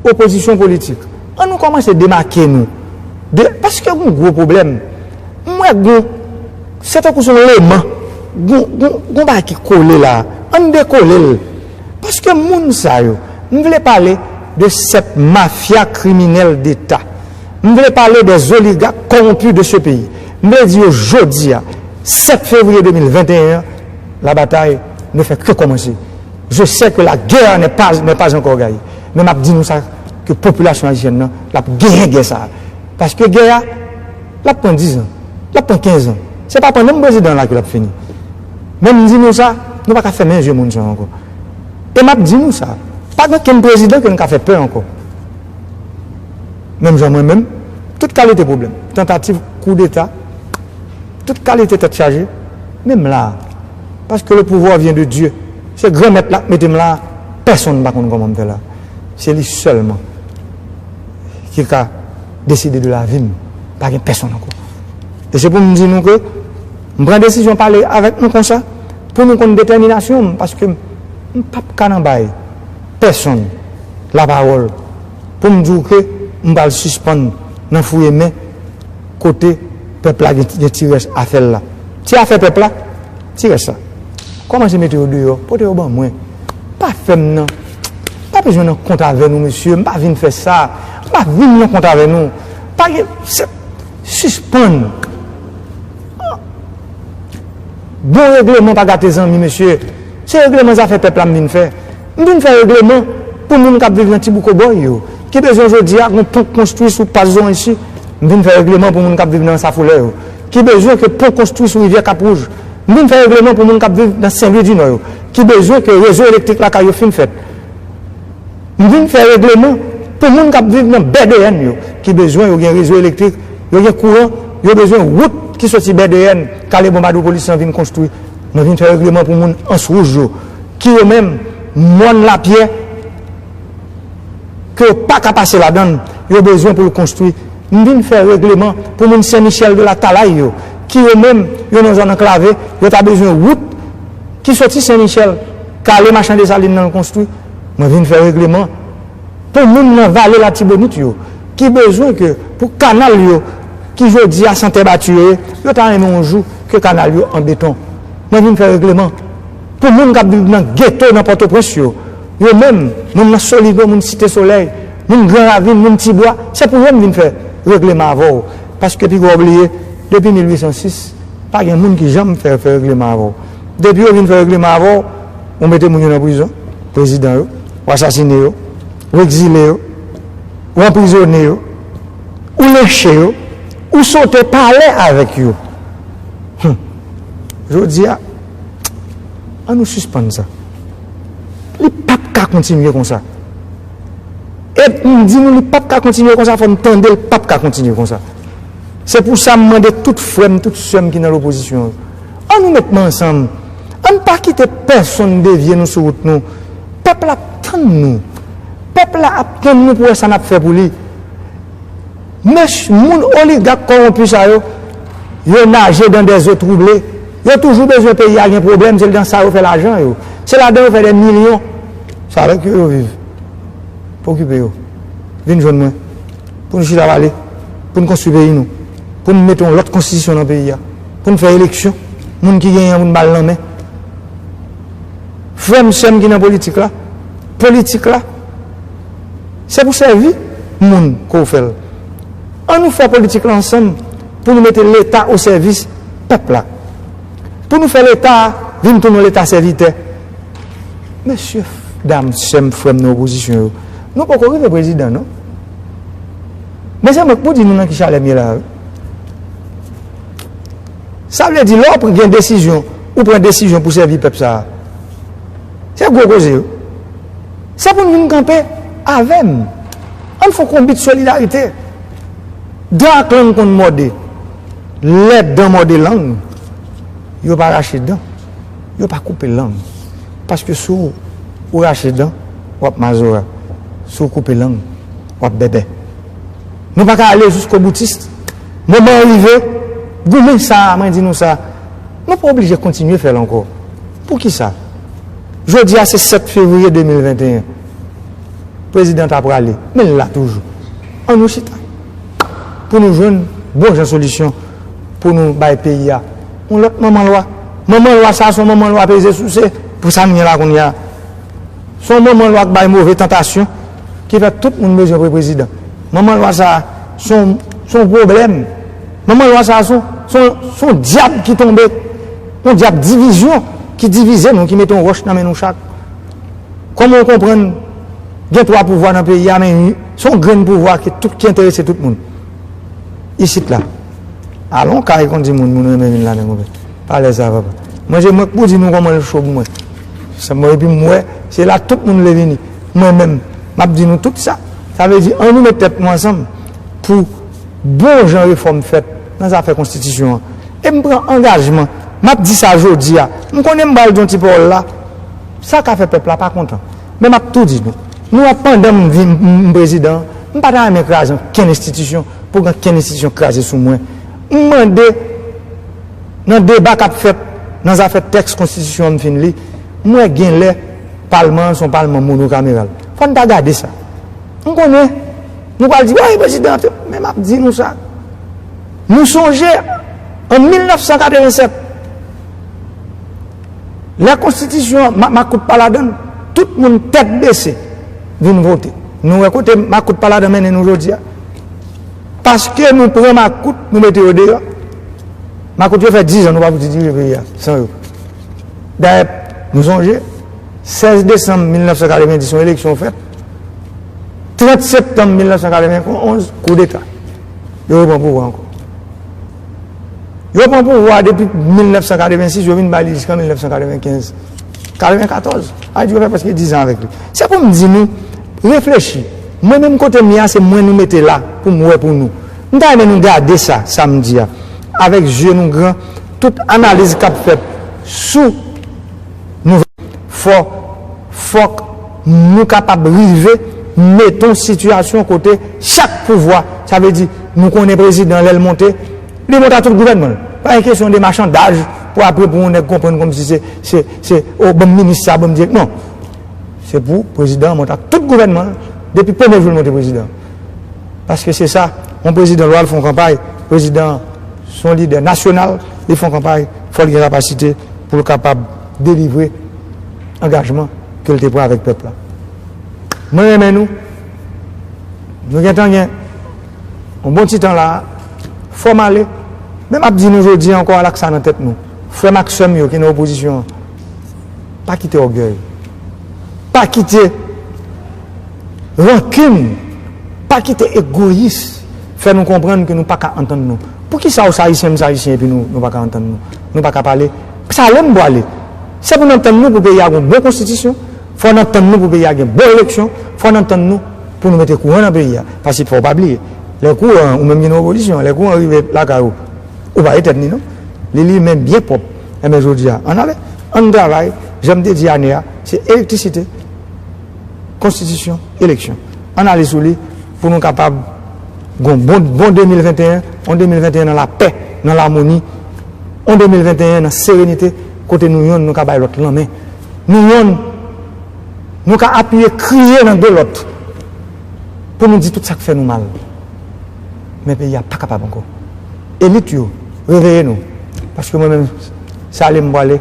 Opozisyon politik, an nou kòmanse demake nou de, paske gon gwo pwoblèm, m wè gon, se tankou son leman, gon, gon, gon bagay ki kole la a, an n dekole l, paske moun sa yo, m vle pale de 7 mafya kriminèl deta, m vle pale des oligarques corrompus de ce pays, m vle di yo jodi a, 7 fevriye 2021 an, la bataille ne fait que commencer. Je sais que la guerre n'est pas n'est pas encore gaye men map di nou sa ke popilasyon ayisyèn nan lap genyen gè sa paske gè a lap pran 10 ans lap pran 15 ans se pa pandan m prezidan la ke lap fini men m di nou sa nou paka fèmen je moun sa ankò e map di nou sa pa gen okenn prezidan ke nou ka fè pè ankò menm jan mwen menm tout kalite pwoblèm tantativ koudeta tout kalite tèt chaje men m la. Parce que le pouvoir vient de Dieu. Se Granmèt la k mete m la a. Pèsonn pa konn kòman m fè la. Se li sèlman ki ka deside de lavi m. Pa gen pèsonn ankò. E se pou m di nou ke m pran desizyon pale avèk nou konsa pou nou konn detèminasyon m paske m p ap ka nan bay pèsonn lapawòl pou m di w ke m pral sispann nan fouye men kote pèp la gen ti rès afè l la. Ti afè pèp la, ti rès la. Kòmanse mete yo deyò, pote yo ban mwen. Pa fè m nan, pa bezwen nan kont avè nou mesye, m pa vin fè sa. M pa vin nan kont avè nou. Pa gen, se, sispann. Bon regleman pa gate zanmi mesye. Se regleman zafè pèp la m vin fè. M vin fè regleman pou moun k ap viv nan Ti Bouko Bòy yo, ki bezwen jodi a gon pon konstwi sou Pas Zorenchi. M vin fè regleman pou moun k ap viv nan Ansafolè yo, ki bezwen ke pon konstwi sou Rivyè Kap Wouj. M vin fè regleman pou moun k ap viv nan Sen Lwi di Nò yo, ki bezwen ke rezo elektrik lakay yo fin fèt. M vin fè regleman pou moun k ap viv nan Bèdeyèn yo, ki bezwen yo gen rezo elektrik, yo gen kouran, yo bezwen wout ki soti Bèdeyèn, Kale Bonbadou Polisyan vin konstwi. Mwen vin fè regleman pou moun Ans Wouj yo. ki yo menm mòn lapyè ke yo pa ka pase ladann yo bezwen pou yo konstwi m vin fè regleman pou moun sen michèl de latalay yo ki yo menm yo nan zòn anklave yo ta bezwen wout ki soti sen michèl k ale machan desalin nan konstwi mwen vin fè regleman pou moun nan vale latibonit yo ki bezwen ke pou kanal yo ki jodi a san tè bati yo ye yo ta renmen yon jou ke kanal yo an beton mwen vin fè regleman. Pou moun k ap viv nan geto nan Pòtoprens yo, yo menm, moun nan Soligo, moun Site Solèy, moun Gran Ravin, moun Ti Bwa, se pou yo m vin fè regleman avè w, paske pi gwa w bliye, depi 1806, pa gen moun ki janm fè fè regleman avè w. Depi yo vin fè regleman avè w, ou mete moun yo nan prizon, prezidan yo, ou asasine yo, ou ekzile yo, ou anprizone yo, ou lenche yo, ou sote pale avèk yo. Hum! Jodi a. An nou sispann sa. Li pa t ka kontinye konsa. E m di nou li pa t ka kontinye konsa fò n tande l pa t ka kontinye konsa. Se pou sa m mande tout frè m, tout sè m ki nan lopozisyon yo. An nou met men ansanm. An n pa kite pèsonn devye nou sou wout nou. Pèp la ap tann nou. Pèp la ap tann nou pou wè sa n ap fè pou li. Mech moun oligak kowonpi sa yo, yo naje dan dè zo twouble, yo toujou bezwen peyi a gen pwoblèm, se dan sa yo fè lajan yo, se ladan yo fè dè milyon. Se avèk yo yo viv. Pa okipe yo. Vin jwenn mwen. Pou n chita pale. Pou n konstwi peyi nou. Pou n mete yon lòt konstitisyon nan peyi a. Pou n fè eleksyon. Moun ki genyen an pou n ba l nan men. Frè m, sè m ki nan politik la, politik la, Se pou sèvi moun ke w fè l. An nou fè politik la ansanm pou nou mete Leta o sèvis pèp la. Pou nou fè Leta a vin tounen yon Leta sèvitè. Mesye, dam, sè m, frè m nan opozisyon yo, nou poko rive prezidan non. Men se mwen k pou di nou nan ki chalè m ye la a wi. Sa vle di lè w gen desizyon, ou pran desizyon pou sèvi pèp sa a. Se gwo koze wi. Se pou nou vin kanpe avè m. Ann fon konbit solidarite. Dan ak lang konn mòde. Lè dan mòde lang, yo pa rache dan, yo pa koupe lang. Paske si w rache dan, w ap mazora. Si w koupe lang, w ap bèbè. Nou pa ka ale jiskoboutist. Moman an rive, goumen sa a, mwen di nou sa, nou pa oblije kontinye fè l ankò. Poukisa? Jodi a se 7 fevriye 2021. Prezidan ta prale, men l la toujou. An nou chita pou nou jwenn bon jan solisyon pou nou bay peyi a yon lòt manman lwa. Manman lwa sa a se yon manman lwa peze souse pou sa n gen la kounye a. Se yon manman lwa k bay move tantasyon ki fè tout moun bezwen pre prezidan. Manman lwa sa a se yon pwoblèm. Manman lwa sa a se yon dyab ki tonbe. Yon dyab divizyon ki divize nou, ki mete yon wòch nan men nou chak. Kòman ou konprann gen twa pouvwa nan peyi a men se yon grenn pouvwa ki tout ki enterese tout moun. Isit la. Alon kay kon di moun moun renmen vin ladan konpè. Pa lè sa papa. Mwen se mwen k pou di nou kòman l cho pou mwen. Se mwen epi m wè se la tout moun vle vini. Mwen menm m ap di nou tout sa. Sa vle di an nou met tèt nou ansanm pou bon jan refòm fèt. nan zafè konstitisyon an e m pran angajman, m ap di sa jodi a, m konnen m pral di yon ti pawòl la, sa ka fè pèp la pa kontan, men m ap tou di nou, nou wè pandan m vin m prezidan, m pa ta renmen kraze ankenn enstitisyon pou ankenn enstitisyon kraze sou mwen. M mande nan deba k ap fèt nan zafè tèks konstitisyon an m fin li, m wè gen lè palman an se yon palman monokameral, fò n ta gade sa. M konnen. Nou pral di, Woy, prezidan Trump. Men m ap di nou sa, Nou sonje an 1987, lè konstitisyon an, makout pa ladan l, tout moun tèt bese vin vote. Nou wè kote makout pa ladan mennen nou jodi a? Paske nou pran makout, nou mete yo deyò. Makout yo fè dizan nou pa fouti dirije peyi a san yo. Dayè, nou sonje, 16 desanm 1990 yon eleksyon fèt. 30 septanm 1991, koudeta. Yo repran pouvwa ankò. Yo repran pouvwa depi 1986, yo vin ba li jiskan 1995. 94, Ayiti yo fè prèske 10 an avèk li. Se pou m di nou, reflechi, mwen menm kote m ye a, se mwen nou mete la pou m wè pou nou. M ta renmen nou gade sa, sa m di a, avèk zye nou gran, tout analiz k ap fèt sou. Nouvèl fò fòk nou kapab rive mete yon sitiyasyon kote chak pouvwa, sa vle di nou konnen prezidan lè l monte, li monte ak tout gouvènman l. Pa gen kesyon de machandaj pou apre pou yon nèg konprann kòmsi se, se, se, o ban m minis sa, ban m dirèk, non. Se pou prezidan an monte ak tout gouvènman l depi premye jou l monte prezidan. paske se sa yon prezidan lwa l fè yon kanpay prezidan se yon lidè nasyonal li fè yon kanpay fò l gen kapasite pou l kapab delivre angajman ke l te pran avèk pèp la mwen renmen nou nou gentan gen yon bon ti tan la fò m ale men m ap di nou jodi ankò al ak sa nan tèt nou frè m ak sè m yo ki nan opozisyon an pa kite ògèy pa kite Rankin, Pa kite egoyis fè nou konprann ke nou pa ka antann nou. Poukisa ou se Ayisyen, m se Ayisyen epi nou pa ka antann nou? Nou pa ka pale? Sa ale m pwale. Se pou n antann nou pou peyi a gen yon bon konstitisyon, fò n antann nou pou peyi a gen bon eleksyon, fò n antann nou pou nou mete kouran nan peyi a. Paske fò w pa bliye, lè kouran an, ou menm ki nan opozisyon an, lè kouran an rive lakay ou, ou pa etenn li non. Li limen byen pwòp. Enben jodi a, ann ale, ann travay, jan m te di Ane a, se elektrisite, Konstitisyon, eleksyon. Ann ale sou li pou nou kapab gon bon 2021, on 2021 nan lapè, nan lamoni, on 2021 nan serenite kote nou yonn nou ka bay lòt lanmen, nou yonn nou ka apiye kriye nan do lòt pou nou di tout sa k fè nou mal. Men peyi a pa kapab ankò. Elit yo, reveye nou paske mwen menm se ale m pwale.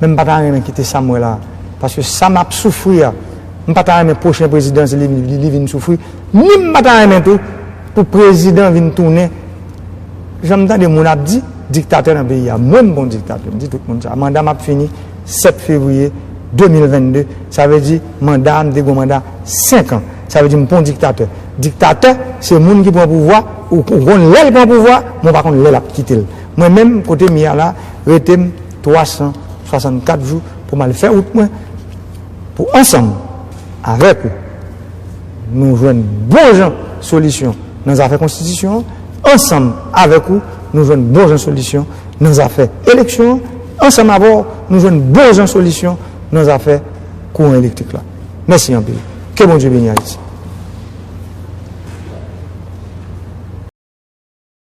men m pa ta renmen kite sa m wè la a paske sa m ap soufri a m pa ta renmen pwochen prezidan se li vin soufri ni m pa ta renmen tou pou prezidan vin tounen jan m tande moun ap di diktatè nan peyi a mwen m pa yon diktatè m di tout moun sa manda m ap fini 7 fevriye 2022 sa vle di manda a m te gen yon manda 5 an sa vle di m pa yon diktatè diktatè se moun ki pran pouvwa ou konn lè l pran pouvwa men ou pa konn lè l ap kite l mwen menm kote m ye a la rete m. 364 jou pou m al fè wout mwen pou ansanm avèk ou nou jwenn bon jan solisyon nan zafè konstitisyon an, ansanm avèk ou nou jwenn bon jan solisyon nan zafè eleksyon an, ansanm avè w nou jwenn bon jan solisyon nan zafè kouran elektrik la. Mèsi anpil. Ke Bondye beni Ayiti.